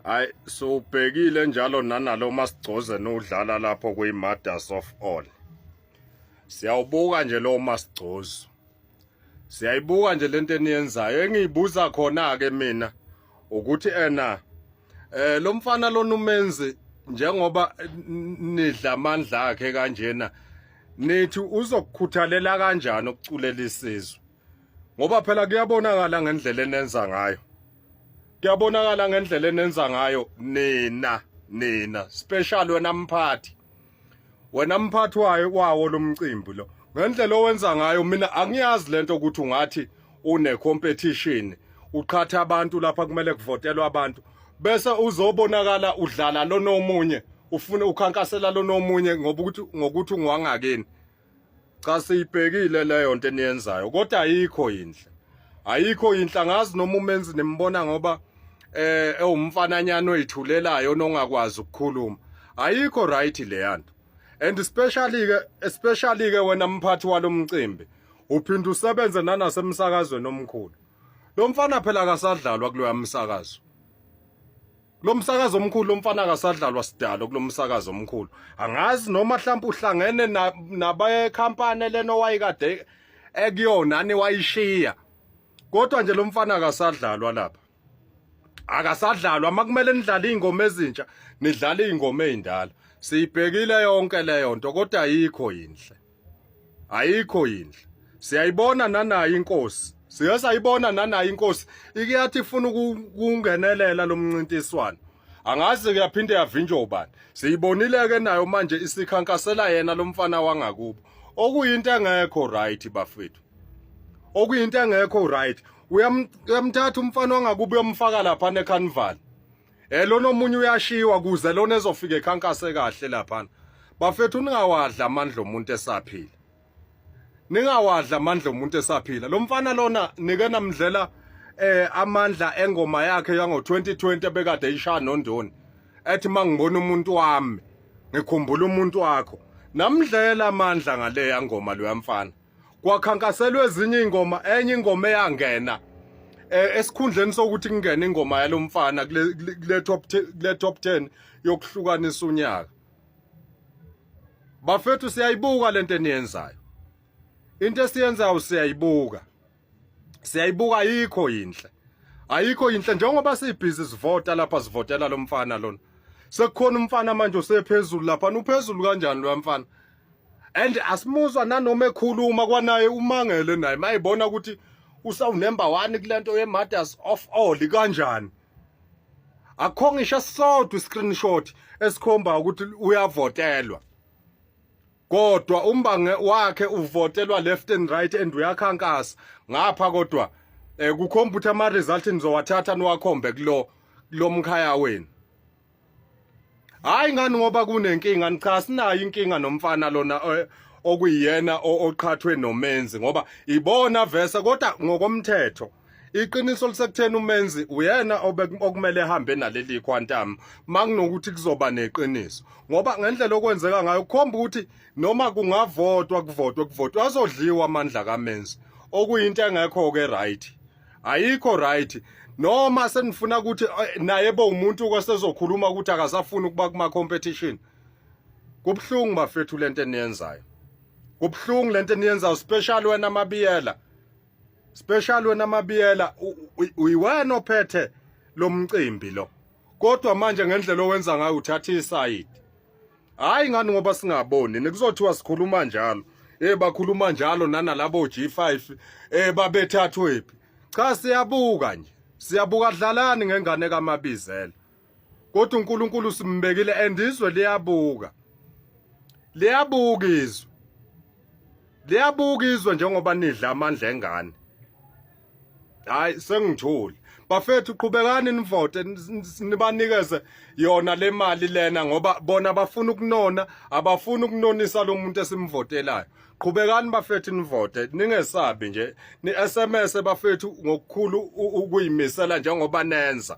hayi siwubhekile njalo nanalo masigcoze nodlala lapho kwi-mothers of all siyawubuka nje lowo masigcozo siyayibuka nje lento eniyenzayo engiyibuza khona-ke mina ukuthi ena eh lo mfana lona umenzi njengoba nidla amandla akhe kanjena nithi uzokukhuthalela kanjani ukuculela isizwe ngoba phela kuyabonakala ngendlela enenza ngayo kuyabonakala ngendlela enenza ngayo nina nina special wena mphathi wena mphathi wayo kwawo lomcimbi lo ngendlela owenza ngayo mina angiyazi lento ukuthi ungathi une competition uqhatha abantu lapha kumele kuvotelwe abantu bese uzobonakala udlala lona omunye ufune ukhankasela lona omunye ngoba ukuthi ngokuthi ungwangakini cha siyibhekile leyo nto eniyenzayo kodwa ayikho yinhle ayikho yinhle angazi noma umenzi nimbona ngoba eh ewumfananyana oyithulelayo nongakwazi ukukhuluma ayikho right leya nto and especially ke especially ke wena mphathi walomcimbi uphinde usebenze nanasemsakazweni omkhulu lo mfana phela akasadlalwa kuloya msakazo lo msakazi omkhulu lo mfana akasadlalwa sidalo kulo msakazi omkhulu angazi noma mhlawumbe uhlangene nabekhampani lena owayikade ekuyona ani wayishiya kodwa nje lo mfana akasadlalwa lapha akasadlalwa makumele nidlale izingoma ezintsha nidlale izingoma ezindala siyibhekile yonke leyo nto kodwa ayikho yinhle ayikho yindle siyayibona nanayo inkosi siye sayibona nanayo inkosi ikiyathi ifuna ukungenelela lo mncintiswano angazi kuyaphinde yavinjwa ubani siyibonile-ke nayo manje isikhankasela yena lo mfana wangakubo okuyinto engekho right bafethu okuyinto engekho right uyamthatha umfana wangakubo uyomfaka lapha necarnival Eh lona omunye uyashiwa kuze lona ezofika ekhankase kahle lapha. Bafethu ningawadla amandla omuntu esaphila. Ningawadla amandla omuntu esaphila. Lo mfana lona nike namdlela eh amandla engoma yakhe yango 2020 ebekade ishaya nondoni. Ethi mangibona umuntu wami ngikhumbula umuntu wakho. Namdlela amandla ngale yangoma lo yamfana. kwakhankaselwa ezinye ingoma enye ingoma eyangena eh, esikhundleni sokuthi kungene ingoma yalomfana kule top kule top 10 yokuhlukanisa unyaka bafethu siyayibuka lento eniyenzayo into esiyenzayo siyayibuka siyayibuka ayikho yinhle ayikho yinhle njengoba sibhizi sivota lapha sivotela lo mfana lona sekukhona umfana manje usephezulu lapha uphezulu kanjani lo mfana and asimuzwa nanoma ekhuluma kwanaye umangele naye mayibona ukuthi usawunember 1 kulento ye matters of all kanjani akho ngisho sodwa i screenshot esikhomba ukuthi uyavotelwa kodwa umbange wakhe uvotelwa left and right and uyakhankasa ngapha kodwa eh kukhomba ukuthi ama result nizowathatha niwakhombe kulo lomkhaya wenu hayi ngani ngoba kunenkinga nicha sinayo inkinga nomfana lona eh, okuyiyena oqhathwe nomenzi ngoba ibona verse kodwa ngokomthetho iqiniso lisekutheni umenzi uyena okumele ehambe naleli quantum makunokuthi kuzoba neqiniso ngoba ngendlela okwenzeka ngayo kukhomba ukuthi noma kungavotwa kuvotwe kuvotwe azodliwa amandla kamenzi okuyinto engekho ke right ayikho right noma senifuna ukuthi eh, naye bo umuntu kwasezokhuluma ukuthi akasafuni ukuba kuma competition kubhlungu bafethu lento eniyenzayo kubhlungu lento eniyenzayo special wena mabiyela special wena mabiyela uyiwena ophethe lomcimbi lo kodwa manje ngendlela owenza ngayo uthatha isayidi hayi ngani ngoba singaboni nekuzothiwa sikhuluma njalo eh bakhuluma njalo nanalabo G5 eh babethathwephi cha siyabuka nje siyabuka dlalani ngengane kaMabizela kodwa uNkulunkulu simbekile and izwe liyabuka liyabuka izwe liyabuka izwe njengoba nidla amandla engane hayi sengithule bafethu qhubekani nivote nibanikeze yona le mali lena ngoba bona bafuna ukunona abafuna ukunonisa lo muntu esimvotelayo qhubekani bafethu nivote ningesabi nje ni-sms bafethu ngokukhulu ukuyimisela njengoba nenza